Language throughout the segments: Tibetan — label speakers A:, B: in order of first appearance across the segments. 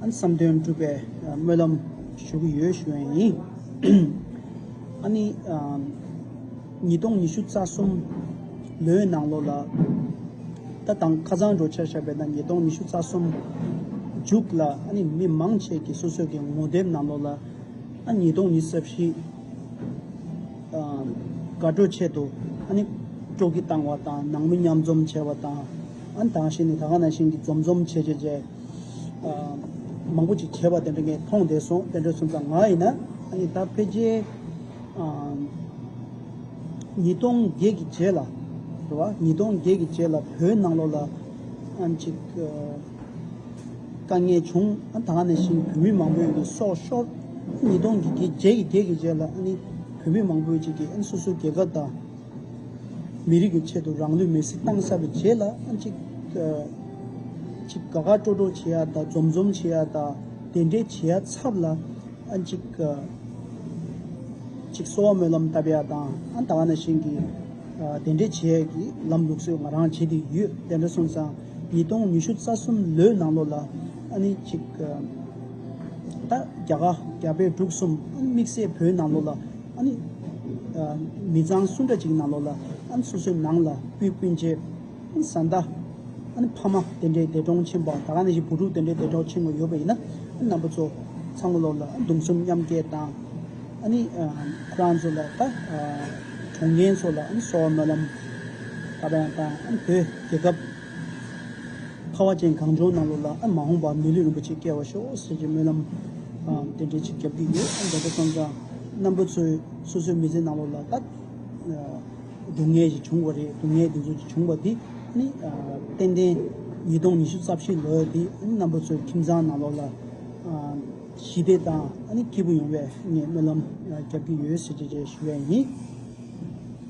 A: བསམ་དོན་འགྲུབ་པའི་སྨོན་ལམ་ཞུ་གི་ཡོད་ཞུ་ཡས་ཡིན། ཨ་ནི། ཉིས་སྟོང་ཉི་ཤུ་རྩ་གསུམ་ལོའི་ནང་ལོ་ལ། ད་དང་ཁ་ཚང་འགྲོ་འཆར་ཆགས་པའི་ན་ཉིས་སྟོང་ཉི་ཤུ་རྩ་གསུམ་མཇུག་ལ་ཨ་ནི་མི་མང་ཆེས་ཀྱི་སོ་སོས་ཀྱི་ངོ་དེབ་ནང་ལོ་ལ། ཨ་ཉིས་སྟོང་ཉི་ས་བཞི། དགའ་སྤྲོ་ཆེད་དུ་ཨ་ནི་སྤྲོ་གི་བཏང་བ་དང་ནང་མི་མཉམ་འཛོམས་བྱས་བ་དང། ཨན་དང་ཞིན་ནི་ད་ག་ན་ཞིན་གྱི་འཛོམས་འཛོམས་བྱེད་བྱེད་བྱེད། མང་པོ་ཅིག་བྱེད་པ་དེ་འདྲ་ངས་མཐོང་བསྡད་སོང་དཔལ་འབྲས་སུམ་རྩ་ང་ཡིན་ན། ཨ་ད་ཕེ་རྗེ། ཉིས་སྟོང་བརྒྱད་ཀྱི་རྗེས་ལ། རེད་བ། ཉིས་སྟོང་བརྒྱད་ཀྱི་རྗེས་ལ་བོད་ནང་ལོགས་ལ། ཨན་ཅིག། དཀའ་ངལ་བྱུང་ཨན་ད་ག་ན་ཞིན་བོད་མི་མང་པོས་ནི་སྲོག་ཤོར། ཉིས་སྟོང་བརྒྱད་ཀྱི་རྗེས་ཀྱི་རྗེས་ལ་ཨ་ནི་བོད་མི་མང་པོས་ཅིག་གིས་ཨན་སོ་སོའི་རྒྱལ་ཁབ་དང། མི་རིགས་ཀྱི་ཆེད་དུ་རང་ལུས་མེར་སྲེག་གཏང་ས་རུ་བྱས་ལ་ཅིག། ཅིག་དགའ་དགའ་སྤྲོ་སྤྲོ་བྱེད་ཡ་དང་འཛོམས་འཛོམས་བྱེད་ཡ་དང་དེ་འདྲའི་བྱེད་ཡ་ཚབ་ལ། ཅིག། ཅིག་གསོ་བ་སྨོན་ལམ་བཏབ་ཡ་དང་ད་ག་ན་བཞིན་གྱི་དེ་འདྲའི་བྱེད་ཡ་གྱི་ལམ་ལུགས་སུ་ང་རང་བྱེད་དེ་ཡོད་དེ་འདྲ་སོང་ཙང་ཉིས་སྟོང་ཉི་ཤུ་རྩ་གསུམ་ལོའི་ནང་ལོ་ལ། ཅིག། ད་རྒྱ་གར་རྒྱ་བལ་འབྲུག་གསུམ་དམིགས་བསལ་བོད་ནང་ལོ་ལ། ཨ་ནི། མི་ཚང་སུ་འདྲ་ཅིག་ནང་ལོག་ལ། ཨ་ནི་སོ་སོའི་ནང་ལ་སྤུས་སྤུན་མཆེད། ཨ་ནི་བཟའ་ཟླ། ཨ་ནི་ཕ་མ་དེ་འདྲའི་འདས་གྲོངས་ཆེན་པོའང་ད་ག་ནས་ཤི་བུ་ཕྲུག་དེ་འདྲའི་འདས་གྲོངས་ཆེན་མོ་ཡོད་པ་ཡིན་ན། ཨ་ནི་རྣམ་པ་ཚོ། ཚང་མ་ལོག་ལ་ཨ་ནི་སྡུམ་གསུམ་མཉམ་སྐྱེལ་བཏང། ཨ་ནི། ཁོ་རང་ཚོ་ལ་ད། གྲོངས་རྒན་ཚོ་ལ་ཨ་ནི་སོ་བ་སྨོན་ལམ། ག་པ་ཡང་བཏང། ཨ་ནི་བོད་རྒྱལ་ཁབ། ཁ་བ་ཅན་གངས་ལྗོངས་གནམ་ལོ་ལ་མ་འོངས་པར་མི་ལུས་རིན་པོ་ཆེ་བསྐྱལ་བར་ཤོག་ཟེར་གྱི་སྨོན་ལམ་རྟེན་འབྲེལ་ཅིག་བརྒྱབ་ཀྱི་ཡོད་ད་ལྟ་བསམ་ཙང་རྣམ་པ་ཚོས་སོ་སོའི་མི་ཚེ་གནམ་ལོ་ལ་བཏགས། སྡུག་བསྔལ་ཞིག་བྱུང་བ་རེད་སྡུག་བསྔལ་འདི་ཚོ་བྱུང་བ་དེ་ནི་ཏན་ཏན་ཉིས་སྟོང་ཉི་ཤུ་རྩ་བཞི་ལོའི་དེ་རྣམ་པ་ཚོའི་ཁྱིམ་ཚང་གནམ་ལོ་ལ་ཞི་བདེ་དང་སྐྱིད་པོ་ཡོང་བའི་ངས་སྨོན་ལམ་བརྒྱབ་ཀྱི་ཡོད་ཟེར་གྱི་རེ་ཞུ་བས་ཡིན།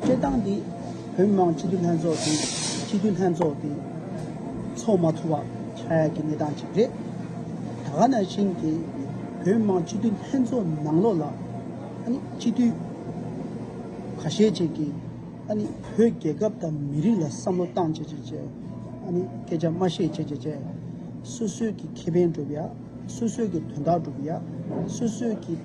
A: སྤྱིར་བཏང་འདི་བོད་མི་མང་སྤྱི་འཐུས་ལྷན་ཚོགས་དང་སྤྱི་འཐུས་ལྷན་ཚོགས་ཀྱིས་འཚོགས་མ་ཐུབ་པ་ཆགས་ཡ་གི་གནས་སྟངས་ཅིག་རེད། ད་ག་ན་ཞིང་དེ་བོད་མི་མང་སྤྱི་འཐུས་ལྷན་ཚོགས་ནང་ལོགས་ལ་ཨ་ནི་སྤྱི་འཐུས་ག་ཤེད་ཅིག་གིས་ཨ་ནི་བོད་རྒྱལ་ཁབ་དང་མི་རིགས་ལ་བསམ་བློ་བཏང་བྱས་བྱས་བྱས་ཨ་ནི་སྐད་ཆ་སྨྲ་ཤེས་བྱས་བྱས་བྱས་སོ་སོས་ཀྱི་ཁེ་ཕན་སྒྲུབ་ཡ་སོ་སོས་ཀྱི་དོན་དག་སྒྲུབ་ཡ་སོ་སོས་ཀྱི།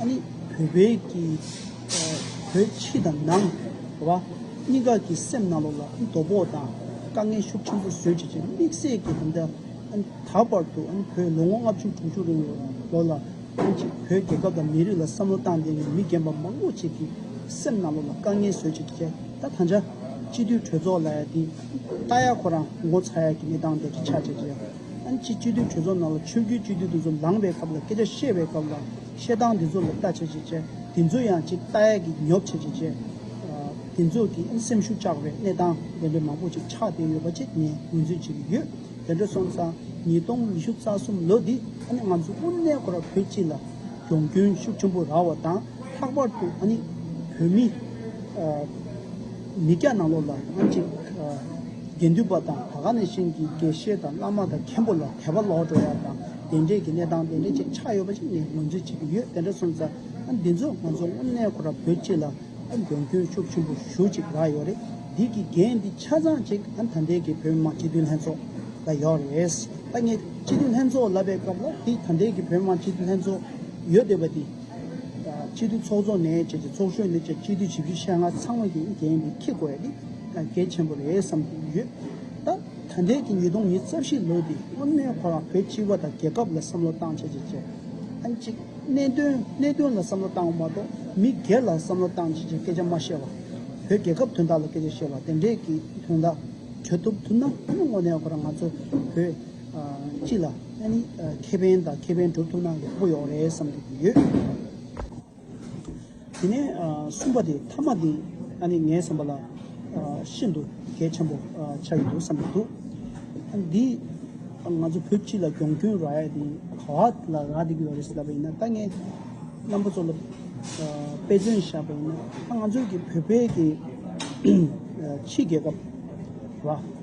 A: ཨ་ནི་བོད་པའི་ཀྱི། བོད་ཕྱི་དང་ནང། བ། གཉིས་ཀ་གི་སེམས་ནང་ལོག་ལ་ཨ་ནི་དོ་པོ་དང། དཀའ་ངལ་ཤུགས་ཆེན་པོ་བཟོད་བྱེད་ཀྱི་དམིགས་བསལ་གྱི་དམ་བཅའ། ཨ་ནི་ད་བར་དུ་ཨ་ནི་བོད་ལོ་ངོ་ལྔ་བཅུ་དྲུག་ཅུ་རིང་ལོ་ལ། ཨ་ནི་གཅིག་བོད་རྒྱལ་ཁབ་དང་མི་རིགས་ལ་བསམ་བློ་བཏང་སྟེ་ནས་མི་རྒན་པ་མང་པོ་ཅིག་གི་སེམས་ནང་ལོག་ལ་དཀའ་ངལ་བཟོད་བྱེད་ཀྱི་ཁྱད་ད་ད་འཇའ། སྤྱི་འཐུས་གྲོས་ཚོགས་ལ་ཡ་དེ། ལྟ་ཡ་ཁོ་རང་ངོ་ཚ་ཡ་གི་གནས་སྟངས་དེ་གི་ཆ་བྱད་ཀྱི་ཡ། ཨན་ཆི་སྤྱི་འཐུས་གྲོས་ཚོགས་ནང་ལ་ཆོས་བརྒྱུད་སྤྱི་འཐུས་དེ་ཚོ་ལངས་པའི་སྐབས་ལ་སྐད་ཆ་བཤད་པའི་སྐབས་ལ་བཤད་སྟངས་དེ་ཚོ་ལ་ལྟ་བྱེད་བྱེད་བྱེད་དེ་ཚོ་ཡང་ཅིག་ལྟ་ཡག་གི་ཉོབ་བྱེད་བྱེད་བྱེད། དེ་ཚོ་གི་ཨན་སེམས་ཤུགས་བཅག་པའི་གནས་སྟངས་དེ་འདྲ་མང་པོ་ཅིག་ཆགས་བསྡད་ཡོད་པ་ཅིག་ངས་ངོས་འཛིན་བྱེད་ཀྱི་ཡོད། དེ་འདྲ་སོང་ཙང་ཉིས་སྟོང་ཉི་ཤུ་རྩ་གསུམ་ལོ་འདི་ཨ་ནི་ང་ཚོ་དབུ་མའི་སྒོ་ར་བོད་སྤྱི་ལ་གྱོང་སྐྱོན་ཤུགས་ཆེན་པོ་རག་བ་དང་ལྷག་པར་དུ་ཨ་ནི་བོད་མི། མི་སྐྱ་ནང་ལོག་ལ་ཨང་ཅིག། དགེ་འདུན་པ་དང་བྷ་ག་ནས་གཤེན་གྱི་དགེ་བཤེས་དང་བླ་མ་དང་མཁན་པོ་ལ་དད་པ་ལོག་འགྲོ་བ་དང་དེ་འབྲེལ་གྱི་གནས་སྟངས་དེ་འདྲ་ཅིག་ཆགས་ཡོད་པ་ཞིག་ངས་ངོས་འཛིན་བྱེད་ཀྱི་ཡོད་དེ་འདྲ་སོང་ཙང་འདི་ཚོ་ང་ཚོ་དངོས་གནས་ཁོ་ར་བོད་སྤྱི་ལ་མགོན་སྐྱོན་ཤུགས་ཆེན་པོ་ཞུ་ཅིག་རག་ཡོད་རེད་འདི་གི་འགན་འདི་ཆ་ཚང་ཅིག་ད་ལྟའི་གི་བོད་མི་མང་སྤྱི་འཐུས་ལྷན་ཚོགས་ལ་ཡོད་རེད་ད་ངས་སྤྱི་འཐུས་ལྷན་ཚོགས་ལབ་པའི་སྐབས་ལ་འདི་ད་ལྟའི་གི་བོད་མི་མང་སྤྱི་འཐུས་ལྷན་ཚོགས་ཡོད་འདོད་པ་འདི། སྤྱི་འཐུས་ཚོགས་གཙོ་ནས་བཅས་ཀྱི་ཚོགས་གཞོན་ནས་བཅས་སྤྱི་འཐུས་ཇི་བཞི་ཤ་ལྔ་ཚང་མ་གིས་འགན་འདི་འཁྱེར་དགོས་ཡ་འདི་གལ་ཆེན་པོ་རེད་བསམ་གྱི་ཡོད། ད་ད་འདས་ཀྱི་ཉིས་སྟོང་ཉིས་རྩ་བཞི་ལོ་འདི་སྔོན་མའི་ཁོ་རང་བོད་སྤྱི་བ་དང་རྒྱལ་ཁབ་ལ་བསམ་བློ་བཏང་བྱས་བྱས་བྱས། ཨ་ཅིག་གནད་དོན་གནད་དོན་ལ་བསམ་བློ་བཏང་བ་མ་གཏོགས་མི་སྒེར་ལ་བསམ་བློ་བཏང་བྱས་བྱས་སྐད་ཆ་མ་བཤད་བར། བོད་རྒྱལ་ཁབ་དོན་དག་ལ་སྐད་ཆ་བཤད་བར་དེ་འདྲས་ཀྱི་དོན་དག་གྲོས་ཐུབ་ཐུབ་ན་དེ་ནི་དངོས་གནས་ཁོ་རང་ང་ཚོ་བོད། གཅིག་ལ་ཨ་ནི་ཁེ་ཕན་དང་ཁེ་ཕན་སྒྲུབ་ཐུབ་ན་ཡག་པོ་ཡོང་རེད་བསམ་གྱི་ཡོད། དེ་ནས་གསུམ་པ་དེ་མཐའ་མ་དེ་ཨ་ནི་ངའི་བསམ་པ་ལ་ཤིན་ཏུ་གལ་ཆེན་པོ་ཆགས་ཀྱི་འདུག་བསམ་གྱི་འདུག་ཨ་ནི་འདི་ང་ཚོ་བོད་སྤྱི་ལ་སྒྱོང་སྐྱོན་རག་ཡ་དེ་ག་བ་ལ་རག་བསྡད་ཀྱི་ཡོད་རེད་ཟེར་བ་ཡིན་ན་ད་ངས་རྣམ་པ་ཚོ་ལ་དཔེ་མཚོན་བཞག་པ་ཡིན་ན་ད་ང་ཚོའི་གི་བོད་པའི་གི་ཕྱི་རྒྱལ་ཁབ་ར།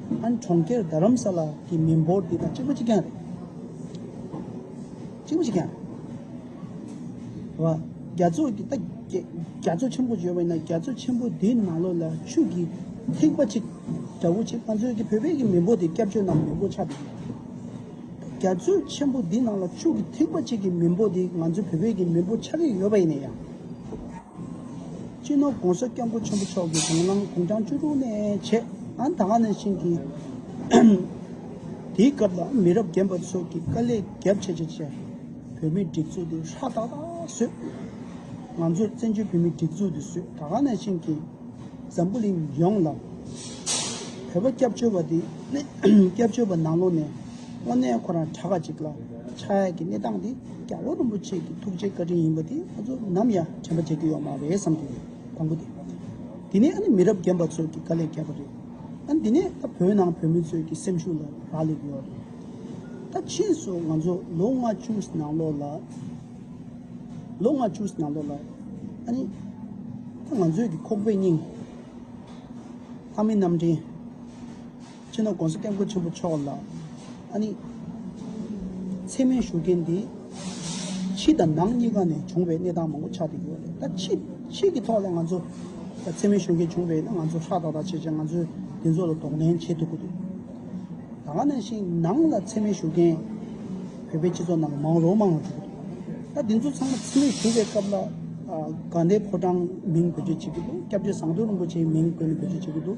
A: ཨན་གྲོང་ཁྱེར་རྡ་རམ་ས་ལ་གྱི་མི་འབོར་འདི་དང་གཅིག་པོ་གཅིག་རྐྱང་རེད། གཅིག་པོ་གཅིག་རྐྱང་རེད། བ། རྒྱ་མཚོ་གི་ད་རྒྱ་མཚོ་ཆེན་པོ་བརྗོད་པ་ཡིན་ན་རྒྱ་མཚོ་ཆེན་པོ་འདི་ནང་ལོགས་ལ་ཆུ་གི་ཐིགས་པ་གཅིག་འདྲ་བོ་གཅིག་ང་ཚོའི་གི་བོད་པའི་གི་མི་འབོར་འདི་སྐྱབས་བཅོལ་ནང་མི་འབོར་ཆགས་འདུག་ད་རྒྱ་མཚོ་ཆེན་པོ་འདི་ནང་ལ་ཆུ་གི་ཐིགས་པ་གཅིག་གི་མི་འབོར་འདི་ང་ཚོའི་བོད་པའི་གི་མི་འབོར་ཆགས་ཀྱི་ཡོད་པ་ཡིན་ན་ཡང། སྤྱི་ནོར ྋགོང་ས ྋསྐྱབས་མགོན་ཆེན་པོ་མཆོག་གིས་དགུང་ལམ་དགུང་གྲངས་བཅུ་དྲུག་ནས་བྱེད་ཨན་ད་ཧ་ནས་བྱིན་གྱིས་དེའི་སྐབས་ལ་མི་རབས་རྒན་པ་ཚོ་གིས་དཀའ་ལས་རྒྱབ་ཆེ་ཆེ་བྱས། བོད་མིའི་སྒྲིག་འཛུགས་དེ་ཧྲ་ཏག་ཏག་བཟོས། ང་ཚོས་བཙན་བྱོལ་བོད་མིའི་སྒྲིག་འཛུགས་དེ་བཟོས་ད་ཧ་ནས་བྱིན་གྱིས་འཛམ་བུ་གླིང་ཡོངས་ལ་བོད་པ་སྐྱབས་བཅོལ་བ་དེ་སྐྱབས་བཅོལ་བ་ནང་ལོགས་ནས་དངོས་གནས་ཁོ་རང་གྲྭ་ཁ་ཅིག་ལ་ཆགས་ཡས་ཀྱི་གནས་སྟངས་དེ་རྒྱ་བོད་རིན་པོ་ཆེ་གི་ཐུགས་རྗེ་བཀའ་དྲིན་ཡིན་པ་དེ་ང་ཚོ་ནམ་ཡང་དྲན་པ་བརྗེད་རྒྱུ་ཡོང་མ་རེད་བསམ་གྱི་ཡོད་དང་པོ་དེ། དེ་ནས་ཨ་ནི་མི་རབས་རྒན་པ་ཚོས་ཀྱི་དཀའ་ལས་བརྒྱབ་པ་རེད། ཨ་འདི་ནས་ད་བོད་ནང་བོད་མི་ཚོས་ཀྱི་སེམས་ཤུགས་ལ་རག་ལས་ཀྱི་ཡོད་རེད། ད་ཕྱིས་སུ་ང་ཚོ་ལོ་ལྔ་བཅུ་ཟིན་ནང་ལོགས་ལ། ལོ་ལྔ་བཅུ་ཟིན་ནང་ལོགས་ལ་ཨ་ནི། ད་ང་ཚོས་ཀྱི་ཁོག་པའི་སྙིང། ལྷ་མི་རྣམས་དྲན། ཕྱི་ནང་དགོངས་སུ་བསྟན་སྐུ་ཆེན་པོ་མཆོག་ལ་ཨ་ནི། མཚན་མོའི་བཞུགས་རྒྱན་འདི། ཕྱི་དང་ནང་གཉིས་ཀ་ནས་བྱུང་བའི་གནས་སྟངས་མང་པོ་ཆགས་ཀྱི་ཡོད་རེད་ད། ཕྱི་ཕྱི་གི་ཐོག་ལ་ང་ཚོ། མཚན་མོའི་བཞུགས་རྒྱན་བྱུང་བས་ན་ང་ཚོ་ཧྲག་ཐག་ཐག་བྱས་བྱས་ང་ཚོས་དེ་ཚོ་ལ་གདོང་ལེན་བྱེད་ཐུབ་ཀྱི་འདུག། ད་ནང་བཞིན་ནང་ལ་མཚན་མོའི་བཞུགས་རྒྱན། བོད་པའི་སྤྱི་ཚོགས་ནང་མང་རོ་མང་རོ་འགྲོ་གི་འདུག་ད་དེ་ཚོ་ཚང་མ་མཚན་མོའི་བཞུགས་པའི་སྐབས་ལ། དགའ་ལྡན་ཕོ་བྲང་མིང་བེད་སྤྱོད་བྱེད་ཀྱི་འདུག་སྐྱབས་རྗེ་ཟངས་མདོག་རིན་པོ་ཆེའི་མིང་བཀོད་ནས་བེད་སྤྱོད་བྱེད་ཀྱི་འདུག།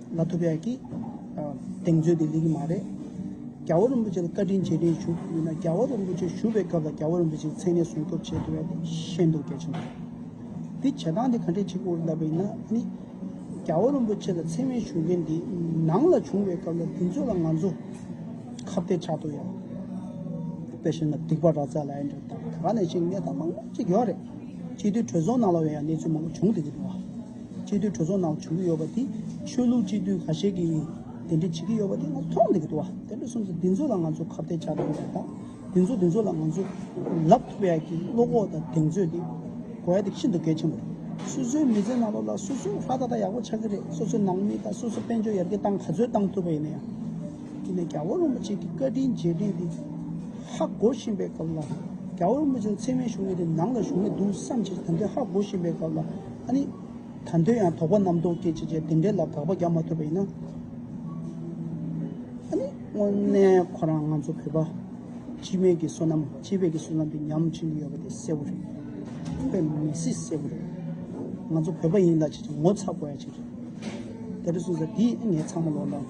A: ལ་ཐུབ་ཡག་གིས་གདེང་ཚོད་དེ་ལེགས་ཀྱི་མ་རེད། རྒྱ་བོ་རིན་པོ་ཆེ་ལ་བཀའ་དྲིན་རྗེས་དྲན་ཞུ་རྒྱུ་ཡིན་ན་རྒྱ་བོ་རིན་པོ་ཆེ་བཞུགས་པའི་སྐབས་ལ་རྒྱ་བོ་རིན་པོ་ཆེའི་མཚན་གནས་སྲུང་སྐྱོབ་བྱེད་དགོས་པ་དེ་ཤེས་འདུག་གལ་ཆེན་པོ། འདི་བྱེད་སྟངས་དེ་ག་འདྲས་གཅིག་པུ་ལབ་པ་ཡིན་ན་ནི། རྒྱ་བོ་རིན་པོ་ཆེ་ལ་མཚན་སྨད་ཞུ་མཁན་དེ་ནང་ལ་བྱུང་བའི་སྐབས་ལ་དེ་ཚོ་ལ་ང་ཚོ་ཁ་བརྡས་ཆགས་འདུག་ཡང། དཔེ་ཤེས་ན་སྡིག་པ་ར་ཙ་ལ་ཨེ་འགྲོ་དང་ག་ག་ནས་ཤེས་གནས་དང་མང་པོ་ཅིག་ཡོད་རེད། སྤྱི་འཐུས་གྲོས་ཚོགས་ནང་ལ་ཡང་གནས་ཚུལ་མང་པོ་བྱུང་འདུག་གི་འདུག་བ། སྤྱི་འཐུས་གྲོས་ཚོགས་ནང་བྱུང་གི་ཡོད་པ་དེ་ཆོས་ལུགས་སྤྱི་འཐུས་ཁ་ཤས་ཀྱིས་འདི་འདྲི་བྱེད་ཀྱི་ཡོད་པ་དེ་ང་ཚོ་མཐོང་བསྡད་ཀྱི་འདུག་བ་དེ་འདྲ་སོང་ཚེ་འདི་ཚོ་ལ་ང་ཚོ་ཁ་བརྡའི་བྱ་དགོས་པ་དང་འདི་ཚོ་འདི་ཚོ་ལ་ང་ཚོ་ལབ་ཐུབ་ཡག་གི་བློ་ཁོག་དང་གདེང་ཚོད་དེ་དགོས་ཡག་དེ་ཤིན་ཏུ་གལ་ཆེན་པོ་རེད་སོ་སོའི་མི་ཚེ་ནང་ལོག་ལ་སོ་སོའི་ཧ་ད་ད་ཡག་པོ་ཆགས་ཀྱི་རེད་སོ་སོའི་ནང་མི་དང་སོ་སོའི་དཔལ་འབྱོར་ཡར་རྒྱས་གཏང་ག་ཚོད་གཏང་ཐུབ་པ་ཡིན་ན་ཡང་དེ་ནས་རྒྱ་བོད་རིན་པོ་ཆེ་ཀྱི་བཀའ་དྲིན་རྗེས་དྲན་དེ་ཧ་གོ་བཞིན་པའི་སྐབས་ལ་རྒྱ་བོད་རིན་པོ་ཆེ་ཚད་མའི་བཞུགས་གནས་དེ་ནང་ལ་བཞུགས་གནས་འདུག་བསམ་ཕྱིར་ད་ལྟའི་ཧ་གོ་བཞིན་པའི་སྐབས་ལ། ཨ་ནི། ད་འདོད་ཡང་དོགས་པ་རྣམ་རྟོག་སྐྱེད་བྱེད་ཅེས་དེ་འདྲའི་ལ་དྭགས་པ་རྒྱག་མ་ཐུབ་པ་ཡིན་ན། ཨ་ནི། དངོས་གནས་ཁོ་རང་ང་ཚོ་བོད་པ། སྤྱི་མེས་ཀྱི་བསོད་ནམས་སྤྱི་བེད་ཀྱི་བསོད་ནམས་དེ་ཉམས་ཆེན་གྱི་ཡོད་པ་དེ་གསལ་བོ་རེད། ཁྱོད་པས་མི་སྲིད་གསལ་བོ་རེད། ང་ཚོ་བོད་པ་ཡིན་ལ་ཅིག་ཅིག་ངོ་ཚ་དགོས་ཡ་ཅིག་རེད། དེ་འདྲ་གསུངས་ས་དེས་ངས་ཚང་མ་ལོག་འདང།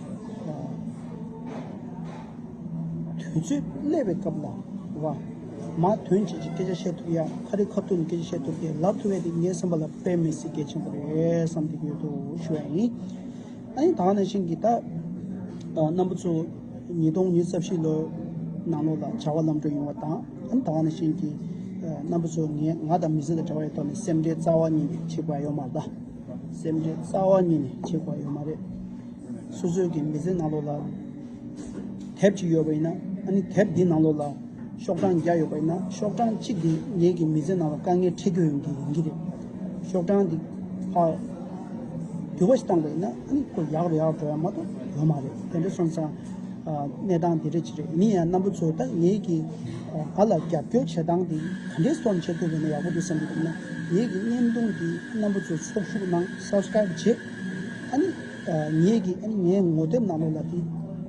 A: དུས་ཚོད་སླེ་བའི་སྐབས་ལ་བ། མ་དོན་བྱེད་ཀྱི་སྐད་ཆ་བཤད་ཐུབ་ཡ་ཁ་རི་ཁ་ཐུག་ནས་སྐད་ཆ་བཤད་ཐུབ་དེ་ལབ་ཐུབ་བས་དེ་ངའི་སེམས་པ་ལ་དཔེ་མི་སྲིད་གལ་ཆེན་པོ་རེད་བསམ་གྱི་ཡོད་དོ་ཞུ་བ་ཡིན། ཨ་ཡིན་དག་ན་ཤིང་གི་ད་སྣམ་བུ་ཚོ་ཉིས་སྟོང་ཉིས་རྩ་བཞི་ལོའི་ནང་ལོགས་ལ་བྱ་བ་ལམ་འགྲོ་ཡོང་བ་དང་ཨ་ཡིན་དག་ན་ཤིང་གི་སྣམ་བུ་ཚོ་ངས་ང་དང་མི་ཚེ་ལ་དྲ་བ་ཡི་ཐོག་ནས་སེམས་ཁྲལ་རྩ་བ་ཉིད་ནས་བྱེད་དགོས་ཨ་ཡོད་མ་གདའ། སེམས་ཁྲལ་རྩ་བ་ཉིད་ནས་བྱེད་དགོས་ཨ་ཡོད་མ་རེད། སོ་སོའི་གི་མི་ཚེ་ནང་ལོགས་ལ། དེབ་ཅིག་ཡོད་པ་ཡིན་ན་ནི་དེབ་དེའི་ནང་ལོགས་ལ་ཤོག་གྲངས་བརྒྱ་ཡོད་པ་ཡིན་ན་ཤོག་གྲངས་གཅིག་དེ་ངེད་ཀྱི་མི་ཚེ་ནང་ལ་དཀའ་ངལ་འཕྲད་རྒྱུ་ཡོང་གི་ཡིན་གྱི་རེད། ཤོག་གྲངས་དེ་ཧ་འགྱུར་བ་ཞིག་བཏང་པ་ཡིན་ན་ནི་ཁོ་ཡག་རེད་ཡག་རེད་མ་གཏོགས་ཡོད་མ་རེད་དེ་འདྲ་སོང་ཙང་གནས་སྟངས་དེ་འདྲ་ཅིག་རེད་མིན་ཡང་རྣམ་པ་ཚོས་ད་ངེད་ཀྱིས་ང་ལ་རྒྱབ་སྐྱོར་བྱེད་སྟངས་དེ་ག་འདྲའི་སོར་འཇལ་ཐུབ་པ་ཡིན་ན་ཡག་པོ་འདུག་བསམ་གྱི་འདུག་ན་ངེད་ཀྱི་བརྙན་ཐུང་འདི་རྣམ་པ་ཚོས་ཚོགས་ཞུགས་གནང Subscribe བྱེད་ཨ་ནི། ངེད་ཀྱིས་ཨ་ནི་ངའི་ངོ་དེབ་ནང་ལོགས་ལ་དེ་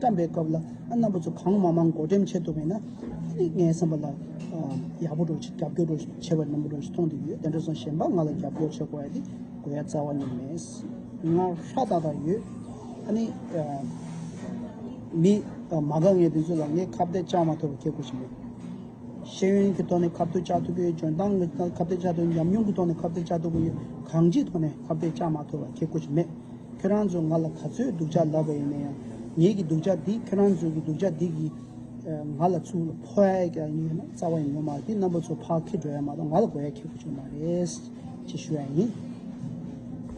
A: བཀྲམས་པའི་སྐབས་ལ་ཨ་རྣམ་པ་ཚོ་གང་མང་མང་མགོ་འགྲེམས་བྱེད་ཐུབ་པས་ན་ཨ་ནི་ངའི་བསམ་པ་ལ་ཡག་པོ་འགྲོ་ཞིང་རྒྱབ་སྐྱོར་འགྲོ་ཞིང་བྱེད་པ་ནན་པོ་འགྲོ་ཞིང་མཐོང་དུ་ཡོད་དེ་འདྲ་སོང་གཞན་པ་ང་ལ་རྒྱབ་སྐྱོར་བྱེད་དགོས་ཡ་དེ་དགོས་ཡ་རྩ་བ་ནས་མེད། ང་ཧྲ་ཏག་ཏག་ཡོད། ཨ་ནི། མི། མ་ག་ངའི་དེ་ཚོ་ལ་ངས་ཁ་བརྡས་ཅང་མ་ཐོབ་པར་ཁྱེད་སྒུག་བཞིན་ཡོད། ཤེས་ཡོན་གྱི་ཐོག་ནས་ཁ་བརྡ་བྱ་ཐུབ་ཡོད་འཇོན་ཐང་གི་ཐོག་ནས་ཁ་བརྡ་བྱ་ཐུབ་ཡོད་ཉམས་མྱོང་གི་ཐོག་ནས་ཁ་བརྡ་བྱ་ཐུབ་ཡོད་གང་ཅིའི་ཐོག་ནས་ཁ་བརྡ་བྱ་མ་ཐུབ་པ་ཁྱེད་ཀུ་ཅི་མེད། ཁྱོད་རང་ཚོས་ང་ལ་ག་ཚོད་སྡུག་ཅག་ལབ་པ་ཡིན་ན་ཡང་ངེད་ཀྱི་སྡུག་ཅག་འདིས་ཁྱོད་རང་ཚོའི་གྱི་སྡུག་ཅག་འདི་གིས་ང་ལ་ཚུར་ཕོག་ཡ་ཡི་ཀྱང་ཡོད་ན་རྩ་བ་ཡིན་ནོ་མ་གི་རྣམ་པ་ཚོ་ཕག་ཁེ་འགྲོ་ཡ་མ་གཏོགས་ང་ལ་དགོས་ཡ་ཁྱེད་ཀུ་ཅི་མ་རེད། ཅེས་ཞུ་ཡ་ཡིན།